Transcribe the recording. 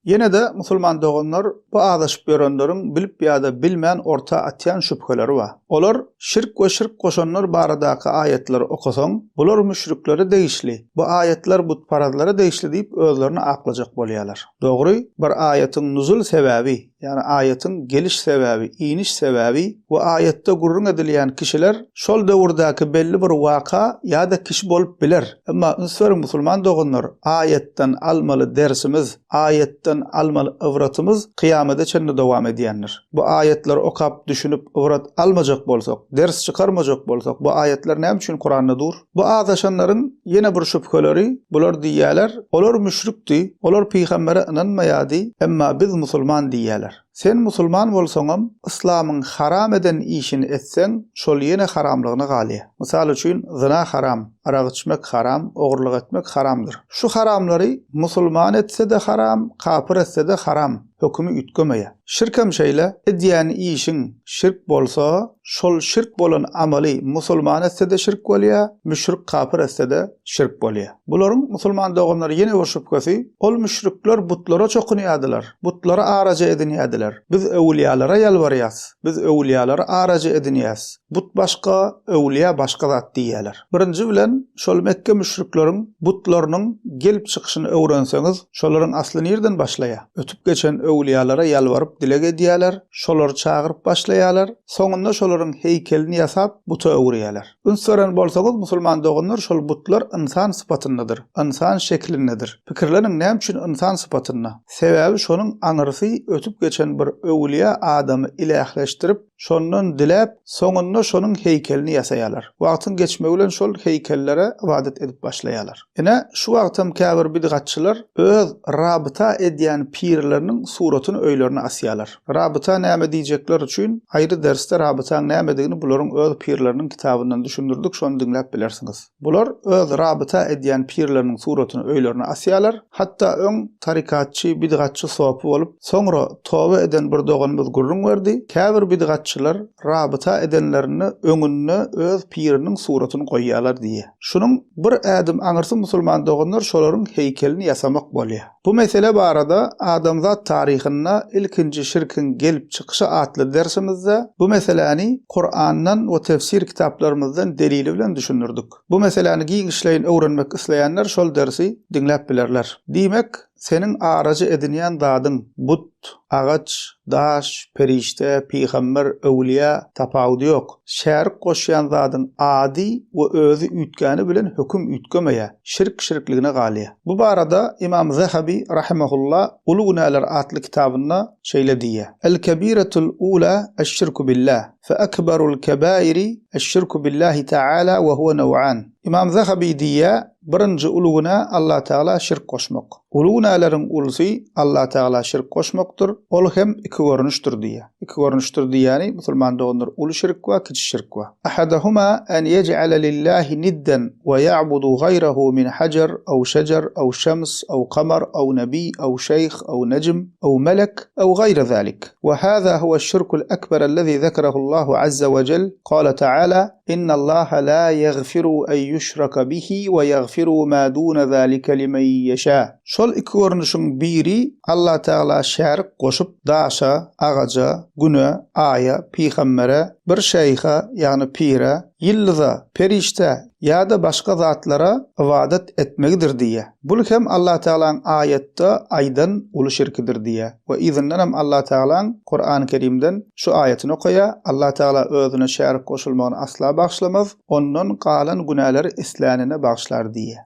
Ýene-de, musulman doganlar, bu azaşyp ýörenleriň bilip ýa-da bilmän orta atýan şübheleri bar. Olar, şirk we şirk goşanlar baradaky aýatlary okasaň, bular müşriklere degişli, bu aýatlar butparazlara degişli diýip özlerini aklajak bolýarlar. Dogry, bir aýatyň nuzul sebäbi, ýagny aýatyň geliş sebäbi, iniş sebäbi we aýatda gürrüň edilýän kişiler şol döwürdäki belli bir waka ýa-da kişi bolup biler. Emma üns beriň musulman doganlar, aýatdan almaly dersimiz, aýatdan almaly ybratymyz kyýamada çenli dowam edýändir. Bu aýatlary okap, düşünip, ybrat almajak bolsak, ders çykarmajak bolsak, bu aýatlar näme üçin Kuranda dur? Bu azaşanlaryň ýene bir şübheleri, bular diýýärler, Olar müşrikdi, olar pygambere ynanmaýardy, emma biz musulman diýýärler. Sen musulman bolsaňam, yslamyň haram eden işini etseň, şol ýene haramlygyna galýar. Mysal üçin, zyna haram, arak içmek haram, ogurlyk etmek haramdyr. Şu haramlary musulman etse-de haram, kapyr etse-de haram hökümi üýtgemeýär. Şirkem şeýle, edýän işiň şirk bolsa, şol şirk bolan amaly musulman etse-de şirk bolýar, müşrik kapyr etse-de şirk bolýar. Bularyň, musulman doganlar, ýene bir şübhesi, ol müşrikler butlara çokunýardylar, butlary araja edinýärdiler. Biz öwülýalara ýalbarýas, biz öwülýalary araja edinýäs, but başga, öwülýa başga zat diýýärler. Birinji bilen, şol Mekge müşrikleriň butlarynyň gelip çykyşyny öwrenseňiz, şolaryň asly nireden başlaýar? Ötüp geçen öwülýalara ýalbaryp dileg edýärler, şolary çagyryp başlaýarlar, soňunda şolaryň heýkelini ýasap, buta öwürýärler. Üns beren bolsaňyz, musulman doganlar, şol butlar ynsan sypatyndadyr, ynsan şeklindedir. Pikirleniň, näme üçin ynsan sypatynda? Sebäbi şonuň aňyrsy ötüp geçen bir öwlüýä adamy ilähleşdirip, şondan diläp, soňunda şonuň heýkelini ýasaýarlar. Wagtyň geçmegi bilen şol heýkellere ybadat edip başlaýarlar. Ine, şu wagtam käbir bidgatçylar öz rabyta edýän pirleriniň suratyny öýlerine asýarlar. Rabyta näme diýjekler üçin aýry dersde rabytaň nämedigini bularyň öz pirleriniň kitabyndan düşündirdik, şony diňläp bilersiňiz. Bular öz rabyta edýän pirleriniň suratyny öýlerine asýarlar. Hatda öň tarykatçy, bidgatçy sopy bolup, soňra toba eden bir doganymyz gürrüň berdi, käbir bidgatçylar rabyta edenlerinde öňünde öz piriniň suratyny goýýarlar diýýär. Şunuň bir ädim aňyrsy musulman doganlar şolaryň heýkelini ýasamak bolýar. Bu mesele barada Adamzat taryhynda ilkinji şirkiň gelip çykyşy atly dersimizde bu meseläni Kurandan we tefsir kitaplarymyzdan delili bilen düşündirdik. Bu meseläni giňişleýin öwrenmek isleýänler şol dersi diňläp bilerler. Diýmek, Seniň araja edinýän zadyň but, agaç, daş, perişde, pygamber, öwlüýä tapawudy ýok. Şärik goşýan zadyň ady we özi üýtgäni bilen höküm üýtgemeýär, şirk şirkligine galýar. Bu barada Ymam Zahabi rahimehullah Uly günäler atly kitabynda şeýle diýýär, El-kebiretul ula eş-şirku billah, fe ekberul kebairi eş-şirku billahi taala we huve naw'an. Ymam Zahabi diýýär, Birinji uly günä Allatagala şirk goşmak. Uly günäleriň ulysy Allatagala şirk goşmakdyr, ol hem iki görnüşdir diýýär. Iki görnüşdir diýýäni, musulman doganlar, uly şirk we kiçi şirk we. Ahaduhuma an yej'ale lillahi nidden we ya'budu gaýrahu min hajar aw şejer aw şems aw kamar aw nebiy aw şeýh aw nejm aw melek aw gaýry zalik. We hada huwa şirkul ekber allazi zekerahu Allahu azza we cell, gale ta'ala, Innallaha la ýagfiru en ýuşraka bihi we ýagfiru ma dune zalike limen ýeşâ. Şol iki görnüşiň biri Allah Tagala şärik goşup, daşa, agaja, güne, aýa, pygambere, bir şeýha, ýagny pire, ýyldyza, perişdä ýa-da başga zatlara ybadat etmegidir diýýär. Bul hem Allah Tagalaň aýatda aýdan uly şirkidir diýýär. We yzyndan hem Allah Tagalaň Kurany Kerimden şu aýatyny okaýar, Allah Tagala Özüne şärik goşulmagyny asla bagyşlamaz, ondan galan günäleri islänine bagyşlar diýýär.